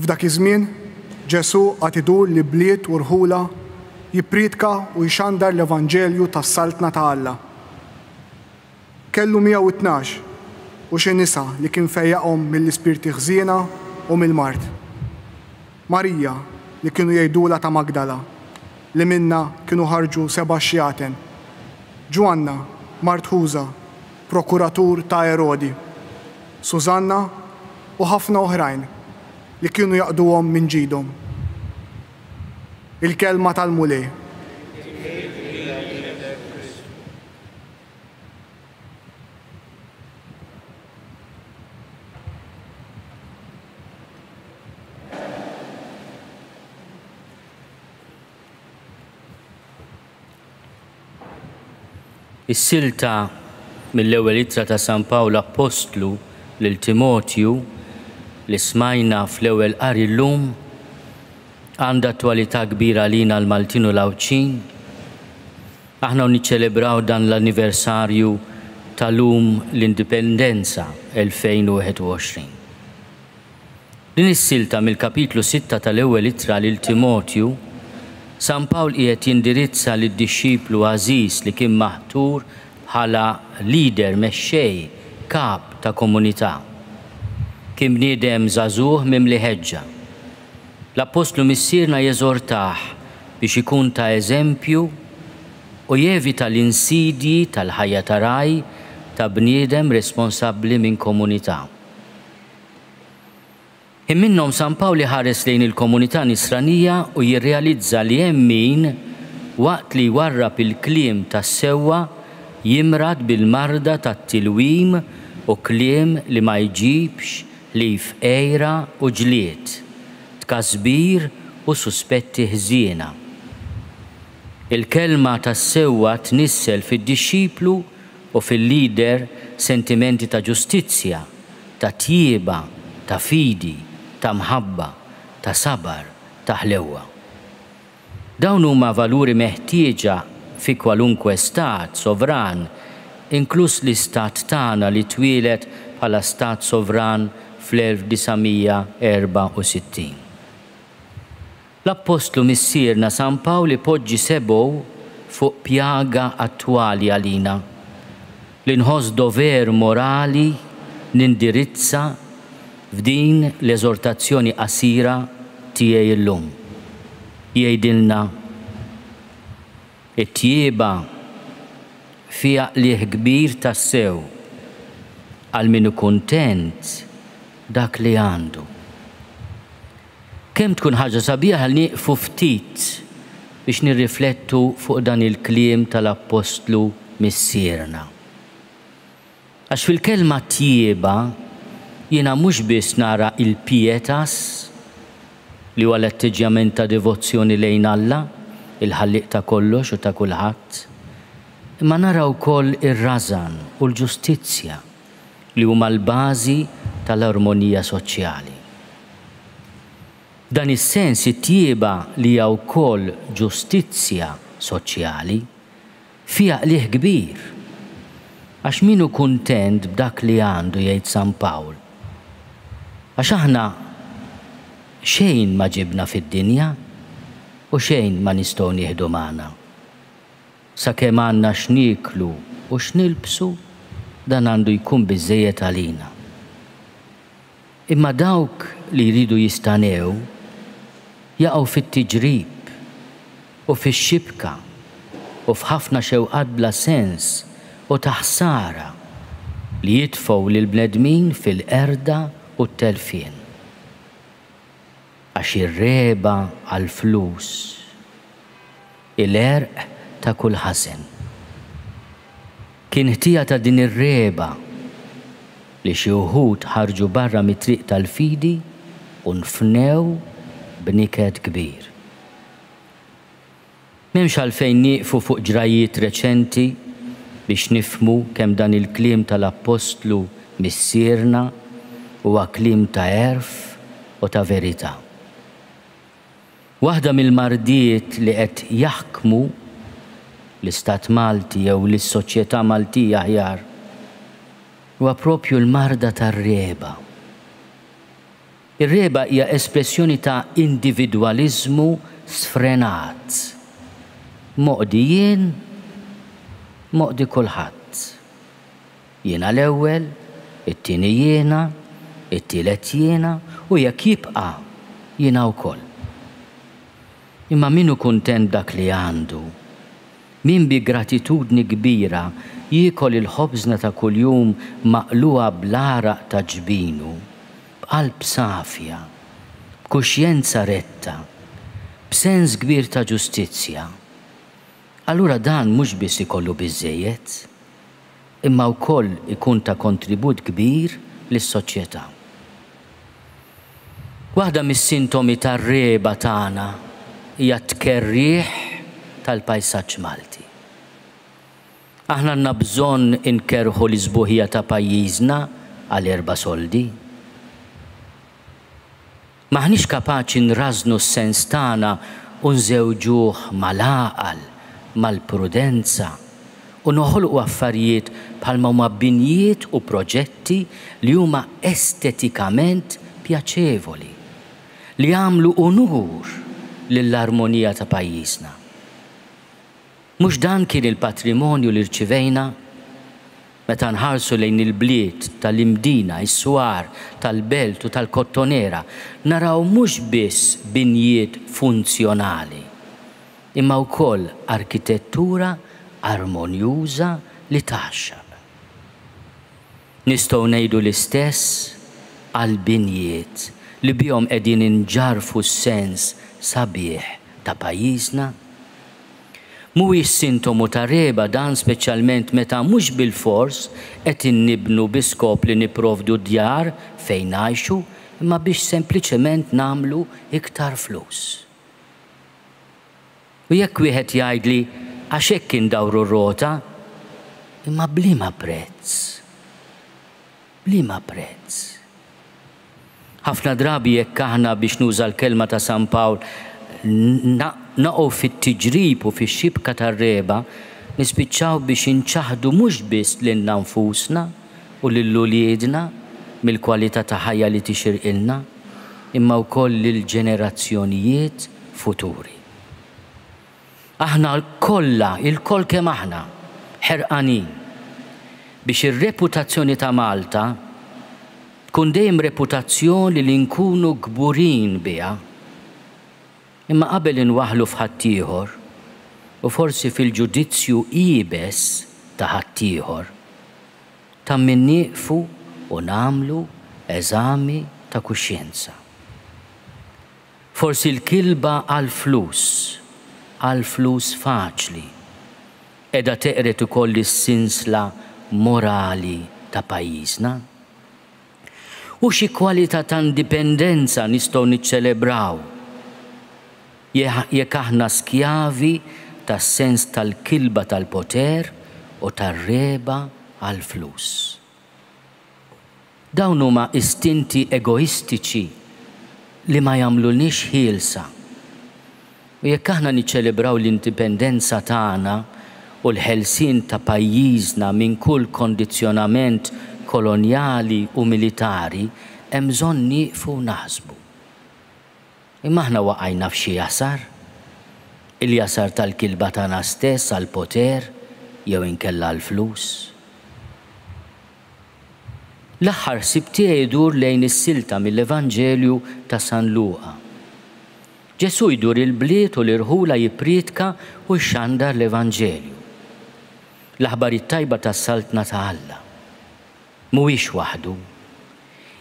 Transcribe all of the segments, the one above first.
F'dak iż-żmien, Ġesù għad idur li bliet u rħula jippriedka u jxandar l-evanġelju tas-Saltna ta' Alla. Kellu miegħu t-tnax u xi nisa li kien fejjaqhom mill-ispirti ħżiena u mill-mard. Marija, li kienu jgħidulha ta' Magdala, li minnha kienu ħarġu seba' xjaten. Ġwanna, mart Ħuża. prokuratur ta' Erodi, Sużanna u ħafna oħrajn li kienu jaqduhom minn ġidhom. Il-Kelma tal-Mulej. Is-silta mill-Ewwel Ittra ta' San Pawl Appostlu lil Timotju li smajna fl-ewwel qari llum għandha attwalità kbira għalina l-Maltin u l-Għawdxin. Aħna u niċċelebraw dan l-anniversarju ta' lum l-Indipendenza 2021. Din is-silta mill-kapitlu sitta tal-Ewwel Ittra lil Timotju, San Pawl qiegħed jindirizza lid-dixxiplu għażiż li kien maħtur bħala leader, mexxej, kap ta' komunità. Kien bniedem żagħżugħ mimli ħeġġa. L-appostlu missierna jeżortah biex ikun ta' eżempju u jevita l-insidji tal-ħajja ta' ragħaj, ta' bniedem responsabbli minn komunità. Hemm minnhom San Pawl iħares lejn il-komunità Nisranija u jirrealizza li hemm min, waqt li jwarrab il-kliem tas-sewwa, jimrad bil-marda tat-tilwim u kliem li ma jġibx ħlief għira u ġlied, tkasbir u suspetti ħżiena. Il-kelma tas-sewwa tnissel fid-dixxiplu u fil-leader sentimenti ta' ġustizzja, ta' tjieba, ta' fidi, ta' mħabba, ta' sabar, ta' ħlewwa. Dawn huma valuri meħtieġa fi kwalunkwe stat sovran, inkluż l-istat tagħna li twieled bħala stat sovran fl-1964. L-Appostlu Missierna San Pawl ipoġġi sebgħu fuq pjaga attwali għalina, li nħoss dover morali nindirizza f'din l-eżortazzjoni qasira tiegħi illum. Jgħidilna, It-tjieba fiha qligħ kbir tassew għal min hu kuntent b'dak li għandu. Kemm tkun ħaġa sabiħa li nieqfu ftit biex nirriflettu fuq dan il-kliem tal-Appostlu Missierna. Għax fil-kelma tjieba jiena mhux biss nara l-pietas, li huwa l-atteġġjament ta' devozzjoni lejn Alla, il-Ħallieq ta' kollox u ta' kulħadd, imma nara wkoll ir-rażan u l-ġustizzja. li huma l-bażi tal-armonija soċjali. F'dan is-sens it-tjieba li hija wkoll ġustizzja soċjali fiha qligħ kbir, għax min hu kuntent b'dak li għandu jgħid San Pawl, għax aħna xejn ma ġibna fid-dinja u xejn ma nistgħu nieħdu magħna. Sakemm għandna x'nieklu u x'nilbsu, dan għandu jkun biżżejjed għalina. Imma dawk li jridu jistanew jaqgħu fit-tiġrib u fix-xibka u f'ħafna xewqat bla sens u ta' ħsara li jitfgħu lill-bnedmin fil-qerda u t-telfien. Għax ir-regħba għall-flus hi l-għerq ta' kull ħasen. Kien ħtija ta' din ir-regħba li xi wħud ħarġu barra mit-triq tal-fidi u nfnew b'niket kbir. M'hemmx għalfejn nieqfu fuq ġrajjiet reċenti biex nifhmu kemm dan il-kliem tal-appostlu Missierna huwa kliem ta' għerf u ta' verità. Waħda mill-mardiet li qed jaħkmu l-istat Malti jew lis-soċjetà Maltija aħjar huwa proprju l-marda tar-regħba. Ir-regħba hija espressjoni ta' individwaliżmu sfrenat. Moqdi jien, moqdi kulħadd. Jiena l-ewwel, it-tieni jiena, it-tielet jiena u jekk jibqa' jiena wkoll. Imma min hu kuntent b'dak li għandu, min bi gratitudni kbira jiekol il-ħobżna ta' kuljum maqlugħa bl-għaraq ta' ġbinu, b'qalb safja, b'kuxjenza retta, b'sens kbir ta' ġustizzja, allura dan mhux biss ikollu biżżejjed, imma wkoll ikun ta' kontribut kbir lis-soċjetà. Waħda mis-sintomi tar-regħba tagħna hija t-tkerrigħ tal-pajsaġġ Malti. Aħna għandna bżonn inkerrħu l-isbuħija ta' pajjiżna għal erba' soldi? M'aħniex kapaċi nrażżnu s-sens tagħna u nżewġuh mal-għaqal, mal-prudenza, u noħolqu affarijiet bħalma huma binjiet u proġetti li huma estetikament pjaċevoli, li jagħmlu unur lill-armonija ta' pajjiżna? Mhux dan kien il-patrimonju li rċivejna? Meta nħarsu lejn il-bliet ta' l-Imdina, is-Swar, tal-Belt u tal-Kottonera, naraw mhux biss binjiet funzjonali, imma wkoll arkitettura armonjuża li tgħaxxaq. Nistgħu ngħidu l-istess għall-binjiet li bihom qegħdin inġarrfu s-sens sabiħ ta' pajjiżna? Mhuwiex sintomu ta' regħba dan speċjalment meta mhux bilfors qed innibnu bi skop li nipprovdu djar fejn ngħixu imma biex sempliċement nagħmlu iktar flus? U jekk wieħed jgħidli għax hekk indawru r-rota, imma b'liema prezz? B'liema prezz? Ħafna drabi jekk aħna, biex nuża l-kelma ta' San Pawl, naqgħu fit-tiġrib u fix-xibka tar-regħba, nispiċċaw biex inċaħħdu mhux biss lilna nfusna u lil uliedna mill-kwalità ta' ħajja li tixirqilna, imma wkoll lill-ġenerazzjonijiet futuri. Aħna kollha, ilkoll kemm aħna, ħerqanin biex ir-reputazzjoni ta' Malta tkun dejjem reputazzjoni li nkunu kburin biha. Imma qabel inwaħħlu f'ħaddieħor, u forsi fil-ġudizzju iebes ta' ħaddieħor, ta' min nieqfu u nagħmlu eżami ta' kuxjenza. Forsi l-kilba għall-flus, għall-flus faċli, qiegħda teqred ukoll is-sinsla morali ta' pajjiżna? U xi kwalità ta' indipendenza nistgħu niċċelebraw jekk aħna skjavi tas-sens tal-kilba tal-poter u tar-regħba għall-flus? Dawn huma istinti egoistiċi li ma jagħmlulniex ħielsa. U jekk aħna niċċelebraw l-indipendenza tagħna u l-ħelsien ta' pajjiżna minn kull kondizzjonament kolonjali u militari, hemm bżonn nieqfu naħsbu. Imma aħna waqajna f'xi jasar? Il-jasar tal-kilba tagħna stess għall-poter jew inkella għall-flus? L-aħħar ħsieb tiegħi jdur lejn is-silta mill-Evanġelju ta' San Luqa. Ġesù jdur il-bliet u l-irħula jippriedka u jxandar l-Evanġelju, l-aħbar it-tajba tas-Saltna ta' Alla. Mhuwiex waħdu,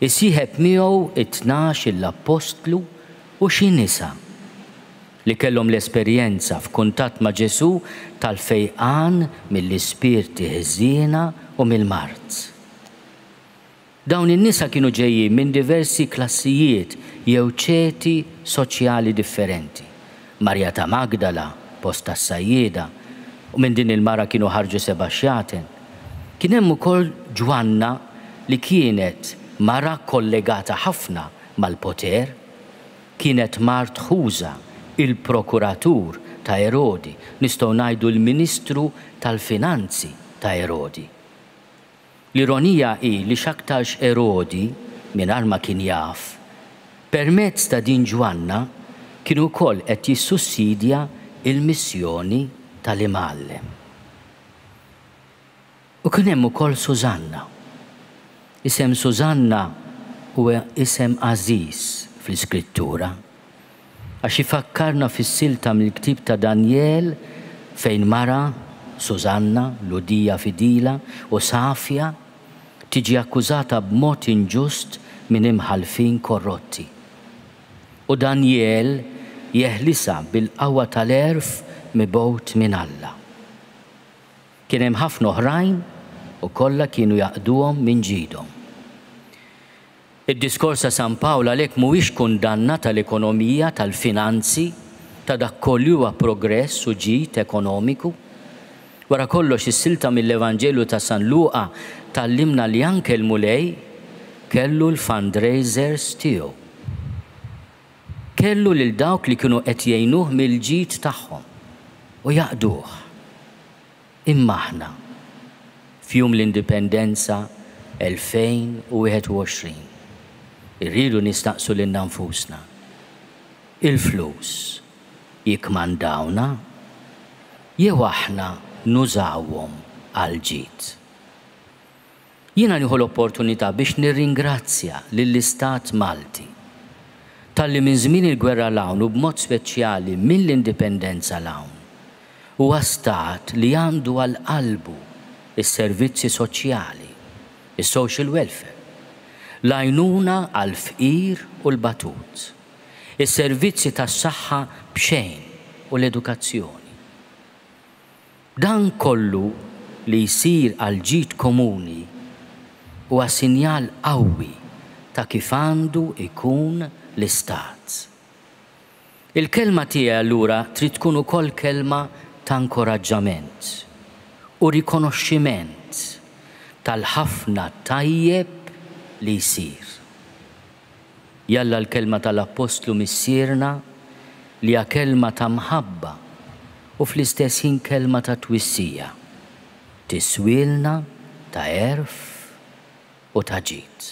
Isieħeb miegħu t-tnax il-appostlu u xi nisa, li kellhom l-esperjenza f'kuntatt ma' Ġesù tal-fejqan mill-ispirti ħżiena u mill-mard. Dawn in-nisa kienu ġejjin minn diversi klassijiet jew ċeti soċjali differenti, Marija ta' Magdala, post tas-sajjieda, u minn din il-mara kienu ħarġu seba' xjaten. Kien hemm ukoll Ġwanna li kienet mara kollegata ħafna mal-poter. Kienet mart Ħuża, il-prokuratur ta' Erodi, nistgħu ngħidu l-ministru tal-finanzi ta' Erodi. L-ironija hi li x'aktarx Erodi, mingħajr ma kien jaf, permezz ta' din Ġwanna kien ukoll qed jissussidja l-missjoni tal-Imgħallem. U kien hemm ukoll Sużanna. Isem Sużanna huwa isem għażiż fl-Iskrittura, Għax ifakkarna fis-silta mill-ktieb ta' Danjel fejn mara, Sużanna, Lhudija fidila u safja, tiġi akkużata b'mod inġust minn imħallfin korrotti. U Danjel jeħlisha bil-qawwa tal-għerf mibgħut minn Alla. Kien hemm ħafna oħrajn u kollha kienu jaqduhom minn ġidhom. Id-diskors ta' San Pawl għalhekk mhuwiex kundanna tal-ekonomija, tal-finanzi, ta' dak koll li huwa progress u ġid ekonomiku. Wara kollox is-silta mill-Evanġelju ta' San Luqa tgħallimna li anke l-Mulej kellu l-fundraisers tiegħu. Kellu lil dawk li kienu qed jgħinuh mill-ġid tagħhom u jaqduh. Imma aħna, f'Jum l-Indipendenza 2021, irridu nistaqsu lilna nfusna, il-flus jikkmandawna jew aħna nużawhom għall-ġid? Jiena nieħu l-opportunità biex nirringrazzja lill-Istat Malti talli minn żmien il-gwerra 'l hawn u b'mod speċjali mill-Indipendenza 'l hawn huwa Stat li għandu għal qalbu s-servizzi soċjali, is-social welfare, l-għajnuna għall-fqir u l-batut, is-servizzi tas-saħħa b'xejn u l-edukazzjoni. Dan kollu li jsir għall-ġid komuni huwa sinjal qawwi ta' kif għandu jkun l-Istat. Il-kelma tiegħi allura trid tkun ukoll kelma ta' inkoraġġament u rikonoxximent tal-ħafna tajjeb li jsir. Jalla l-kelma tal-Appostlu Missierna, li hija kelma ta' mħabba u fl-istess ħin kelma ta' twissija, tiswielna ta' għerf u ta' ġid.